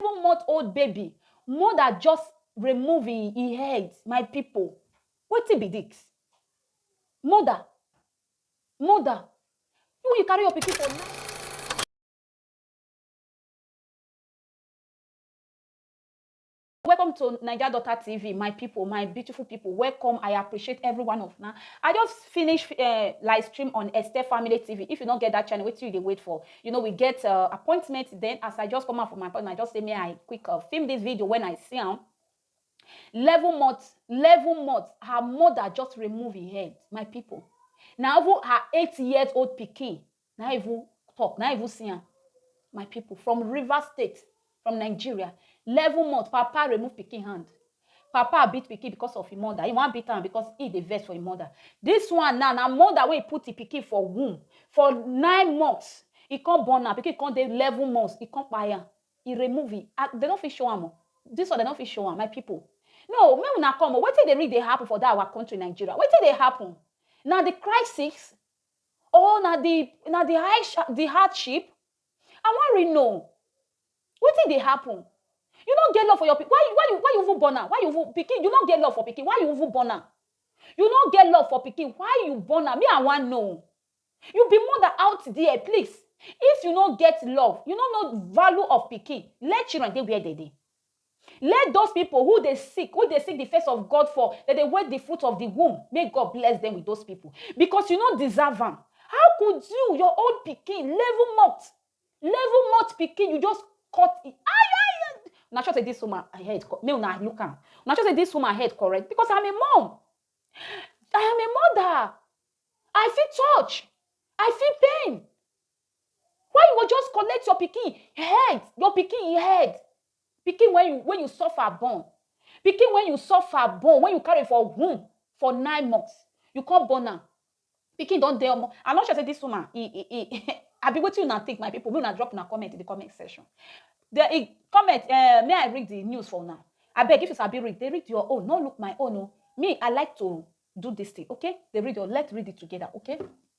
seven month old baby mother just remove e e head my people wetin be this mother mother you you carry your pikin for night. welcome to Naija Daughter TV, my people, my beautiful people. Welcome. I appreciate every one of now. I just finished uh, live stream on Esther Family TV. If you don't get that channel, wait till you wait for. you know we get uh, appointment then as i just come out from my appointment i just say may i quick uh, film this video when i see him. 11 months 11 months her mother just remove her head my people Now even her eight years old pikin Now even talk Now even see him. my people from river state From Nigeria, level month, papa remove pikin hand, papa beat pikin because of im mother, e wan beat am because e dey vex for im mother, dis one now na mother wey put im pikin for womb for nine months, e come born am, pikin come dey eleven months, e come kpai am, e remove im hand, dem no fit show am o, dis one dem no fit show am, my pipu, no o, make una come o, wetin dey really dey happen for dat our country Nigeria, wetin dey happen? Na di crisis or na di, na di high, di hardship? I wan really know wetin dey happen. You no get love for your pikin, why you why you why you even born am? Why you even pikin you no get love for pikin, why you even born am? You no get love for pikin, why you born am? Me I wan know. You be mother out there, please, if you no get love, you no know value of pikin, let children dey where dem dey. Let those pipo who dey seek who dey seek di face of God for dem dey wait di fruit of di womb, make God bless dem wit those pipo, becos you no deserve am. How could you, your own pikin, level mot, level mot pikin, you just cut e ayayay! Una sure say dis woman head correct? Make una look am, una sure say dis woman head correct? Becos I'm a mum, I am a mother, I feel touch, I feel pain. Why you go just collect your pikin head, your pikin e head? Pikin when you when you suffer born, pikin when you suffer born, when you carry for womb for nine months, you come born am. Pikin don dey omo. I'm not sure say this woman, e e e abi wetin una think my people, make una drop una comment in the comment section. The e comment um may I read the news for una? Abeg if you sabi read, dey read your own, no look my own o. Me I like to do this thing, okay? Dey read your, let's read it together, okay?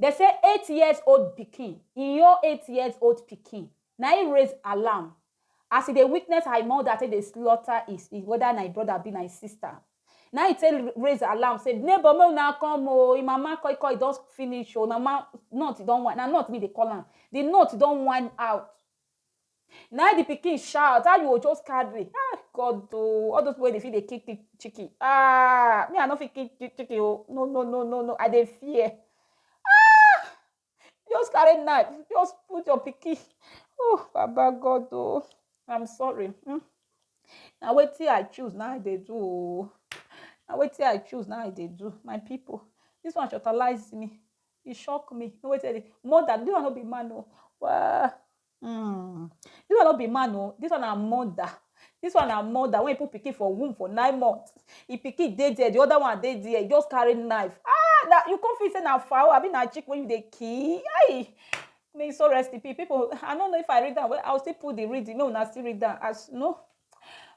Dem say eight years old pikin, Inyo eight years old pikin, na im raise alarm as e dey witness her mother take dey slaughter whether na im brother abi na im sister. Na im e take raise alarm say neighbour make una come o, im mama koi koi don finish o, im mama nut don whine, na nut im dey call am, the nut don whine out. na the pikin shout how you go just carry ah god oh all those people wey dey fit dey kick kick chicken ah me i no fit kick kick chicken oh no no no no no i dey fear ah just carry knife just put your pikin oh baba god oh i'm sorry hmm. na wetin i choose na i dey do oh na wetin i choose na i dey do my people this one shortalize me E shock me. No wetin dey. Mother, this one no be man o. Well, mm, this one no be man o. This one na mother. This one na mother when he put pikin for womb for nine months. He pikin dey there, the other one dey there. He just carry knife. Ah, na, you come feel say na fowl, abi na chicken wey you dey kill. Aii. May his soul rest in peace. People, I no know if I read am well. I will still put the reading. Make una still read am as, you know,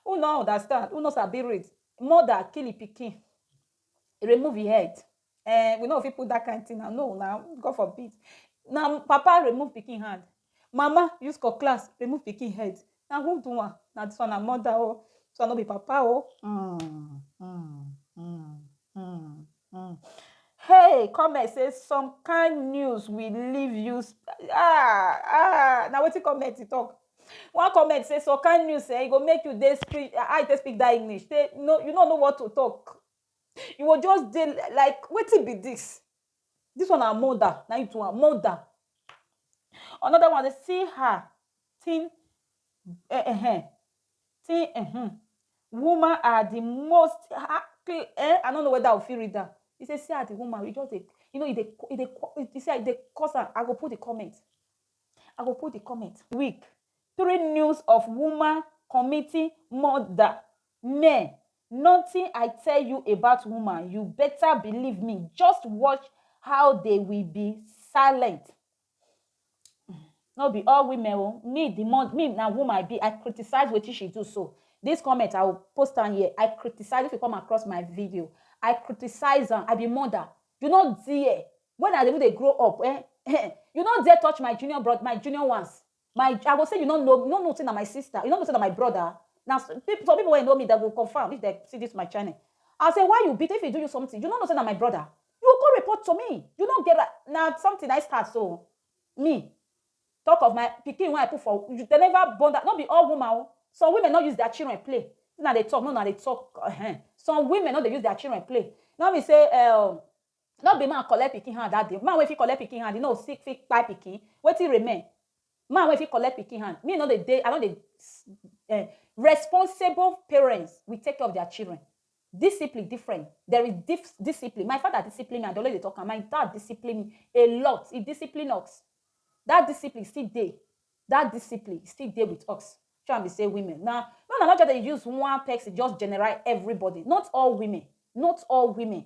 who no understand, who no sabi read. Mother kill e pikin, remove e head. Eh, we no fit put that kind thing now. No, now, God forbid. Now, Papa remove picking hand. Mama use cutlass remove picking head. Now, who do one? Now, this one, a mother, oh. So, I no be Papa, oh. Mm, mm, mm, mm, mm. Hey, comment say some kind news will leave you. Ah, ah. Now, what you comment to talk? one comment say so can you say e go make you dey speak how you take speak that english say no you no know what to talk You go just dey like wetin be dis? Dis one na murder na im do am, murder. Another one say see her tin um tin um woman are the most um I no know whether I go fit read am. E say see as the woman, e just dey you know e dey e dey e say e dey cause am. I go put the comment, I go put the comment. Week three news of woman committing murder Me, nothing I tell you about woman you better believe me just watch how they will be silent no be all women o me the more me na woman i be i criticize wetin she do so this comment i will post am here i criticize if you come across my video i criticize am i be mother you no dare when i even dey grow up eh, eh you no dare touch my junior brother my junior ones My I go say you no know, you no know say na my sister, you no know say na my brother. Na some people wey know me dem go confirm if dem see this my channel. I say why you beat if he do you something, you no know say na my brother. You go come report to me. You no get right. Na something na him start so. Me talk of my pikin wey I put for you dem never born that no be all woman oh. Some women no use their children play. Una dey talk, make una dey talk um. Some women no dey use their children play. No be say um No be man collect pikin hand that day, man wey fit collect pikin hand, you know sick fit kpai pikin, wetin remain? Man wey fit collect pikin hand, me no dey dey, I no dey um responsible parents will take care of their children, discipline different, there is dif discipline, my father discipline me, I dey always dey talk am, my dad discipline me a lot, he discipline us, that discipline still dey, that discipline still dey with us, shey una be sey women na, make una no just dey use one person just general everybody, not all women, not all women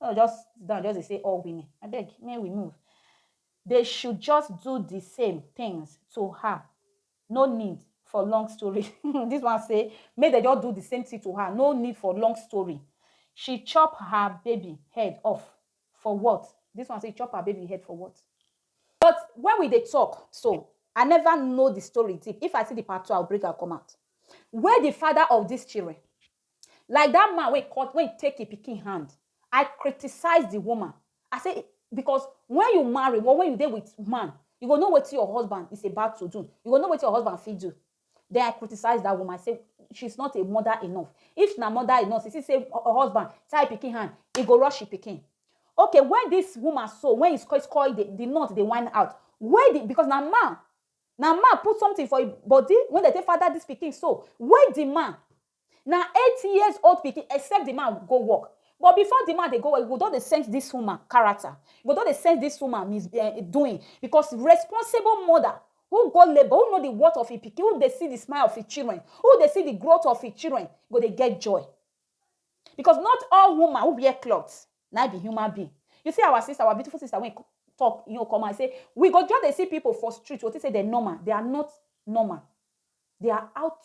no just sit down just dey say all women abeg make we move they should just do the same things to her no need for long story this one say make they just do the same thing to her no need for long story she chop her baby head off for what this one say chop her baby head for what but when we dey talk so i never know the story deep if i see the part two i will bring am come out where the father of this children Like dat man wey cut, wey e take e pikin hand, I criticize di woman, I say, Because wen you marry or wen you dey wit man, you go know wetin your husband is about to do, you go know wetin your husband fit do. Den I criticize dat woman, I say, She is not a mother enough. If she na mother enough, she see sey her husband tie e pikin hand, e go rush e pikin. Okay, wen dis woman so, wen e skoikoi, di nut dey whine out, where di, because na man, na man put sometin for e body wey dem take father dis pikin so, where di man? Na eight years old pikin except the man go work but before the man dey go work you go don dey sense this woman character you go don dey sense this woman mis eh doing because responsible mother who go labour who know the worth of him pikin who dey see the smile of him children who dey see the growth of him children go dey get joy because not all woman who wear cloth na him be human being you see our sister our beautiful sister wey talk him own come out say we go just dey see people for street we go think say dem normal they are not normal they are out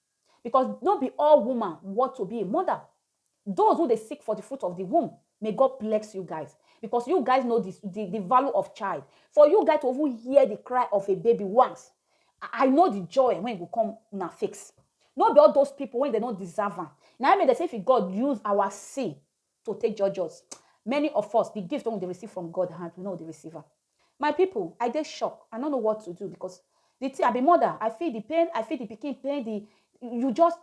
Because no be all woman worth to be a mother. Those who dey seek for the fruit of the womb, may God bless you guys. Because you guys know the the the value of child. For you guys to even hear the cry of a baby once, I I know the joy when e go come una face. No be all those people when dem no deserve am, na im make dem say if God use our see to take judge us. Many of us, the gift wey we dey receive from God hand, we no dey receive am. My people, I dey shock. I no know what to do because the thing, I be mother. I feel the pain. I feel the pikin pain. The you just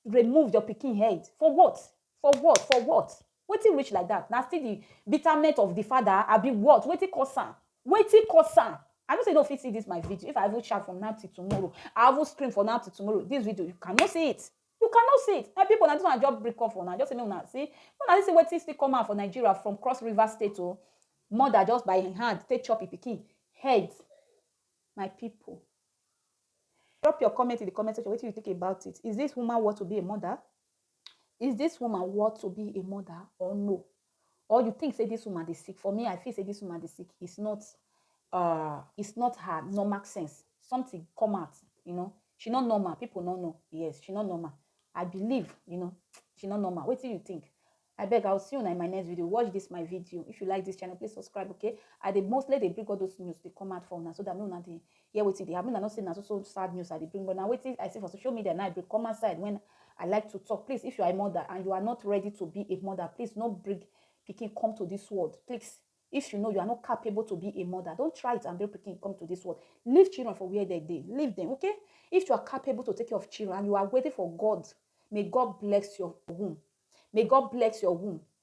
remove your pikin head for what? For what? For what? Wetin reach like that? Na still the bitterment of the father. I be what? Wetin cause am? Wetin cause am? I know say you no fit see this my video. If I even shout from now till tomorrow, I even scream from now till tomorrow. This video, you cannot see it. You can no see it my people na this one I just bring come for una just say make una see make una see see wetin still come out for Nigeria from cross river state o mother just by him hand take chop him pikin head my people drop your comment in the comment section wetin you think about it is this woman worth to be a mother is this woman worth to be a mother or no or you think say this woman dey sick for me i feel say this woman dey sick it's not uh it's not her normal sense something come out you know she not normal people no know yes she not normal i believe you know she not normal what do you think I beg, I'll see you in my next video. Watch this my video. If you like this channel, please subscribe, okay? I they mostly they bring all those news they come out for now so that no now they hear wetin dey happen. Una know say na so so sad news I dey bring, but na wetin I see for social media na I bring come outside when I like to talk. Please, if you are a mother and you are not ready to be a mother, please no bring pikin come to this world. Please, if you know you are not capable to be a mother, don't try it and bring pikin come to this world. Leave children for where they dey. Leave them, okay? If you are capable to take care of children and you are waiting for God, may God bless your womb. May God bless your womb.